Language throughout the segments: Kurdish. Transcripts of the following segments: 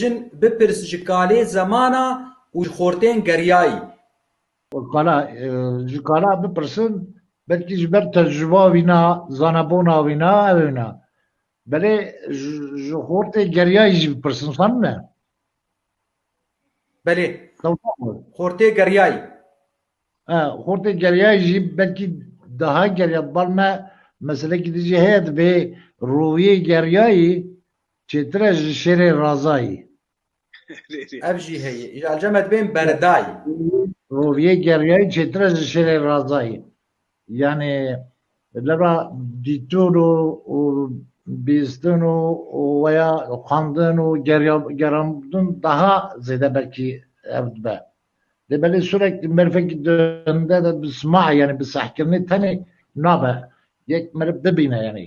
jin bipirs ji kalê zemana û ji xortên geriyayî. Kala ji kala bipirsin belkî ji ber tecrûba wî ne, zanebûna wî ne ew ne. Belê ji xortê geriyayî jî bipirsin sen ne. Belê xortê geriyayî. Xortê geriyayî jî belkî daha geriya bal me meselekî di jî heye divê rûyê geriyayî Çêtir e ji şêrê Razayî. Ev jî heye. Îja li cem e dibên berdayî. Roviyê Geriyayî çêtir e ji şêrê Razayî. Yanî leba dîtin û û bîstin û û weya xwendin û geriya geramdin daha zêde belkî ev dibe. Lê belê sûrek merivekî di hinde de bi sima yanî bi sehkirinê tenê nabe. Yek meriv bibîne yanî.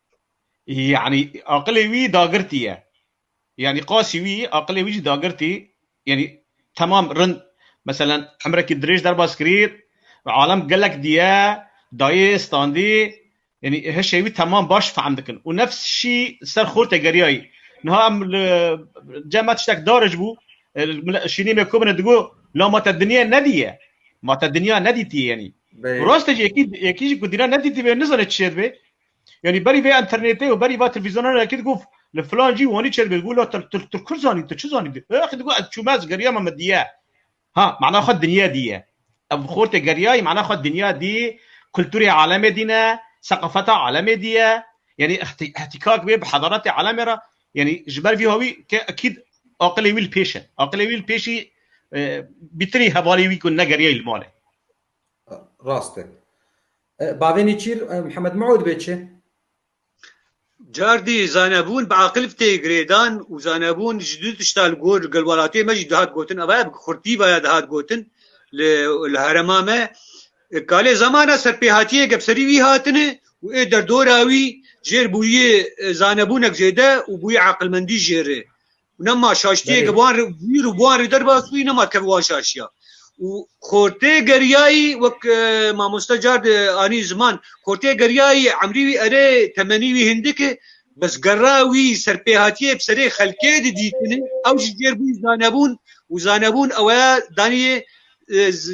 Yanî aqilê wî dagirtî ye. Yanî qasî wî aqilê wî jî dagirtî yanî temam rind meselen emrekî dirêj derbas kirî ve alem gelek diye dayê standî yanî hişê wî temam baş fehm dikin û nefs şî ser xwe te geriyayî. Niha em li cem me tiştek darij bû şînî me komine digo la ma te dinya nedîye ma te dinya nedîtî yanî. Rastê jî yekî yekî jî ku dîna nedîtî be nizane çi şê dibê. Yanî berî vê înternêtê û berî va televîzyonan re kî digot li filan cî wanî çê dibêt, gola tu tu tu kurd zanî, tu çi zanî tu? Axê digot ez çûme ez geriya me me diye. Ha mana xwe dinya diye. Ev xortê geriyayî mana xwe dinya dî, kulturê alemê dîne, seqafeta alemê diye. Yanî ihtî ihtîkak bê bi hedaretê alemê re. Yanî ji ber vî hawî ke ekîd aqilê wî li pêş e. Aqilê wî li pêşî bîtinî hevalê wî ku negeriyayî li malê. Rast e. Bavê Nêçîr Mihemed Miûd bê çi? Cardî zanebûn bi aqilv tê girêdan û zanebûn ji du tişta li gor li gel welatiyê me jî dihat gotin ev e bi kurtî ve ya dihat gotin li li herema me kalê zamana serpêhatiyê gep serî wî hatine û ê derdora wî jêr bûyî zanebûnek zêde û bûyî aqilmendî jêr e Nema şaştiyê ki wan wîr û wan rê derbas wî nema kev wan şaşiya. Û xortê geriyayî wek e, mamoste car de anî ziman xortê geriyayî emrî wî erê temenî wî hindik e bes gerra wî serpêhatiyê bi serê xelkê de dîtine ew ji jêr bûn zanebûn û zanebûn ew e daniyê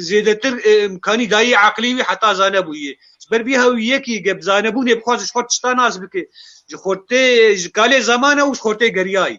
zêdetir imkanî dayî eqlî wî heta zanebûyê. Ji ber vî hev yekî ge bi zanebûnê bixwaze ji xwe tişta nas bike, ji xortê ji kalê zamane û ji xortê geriyayî.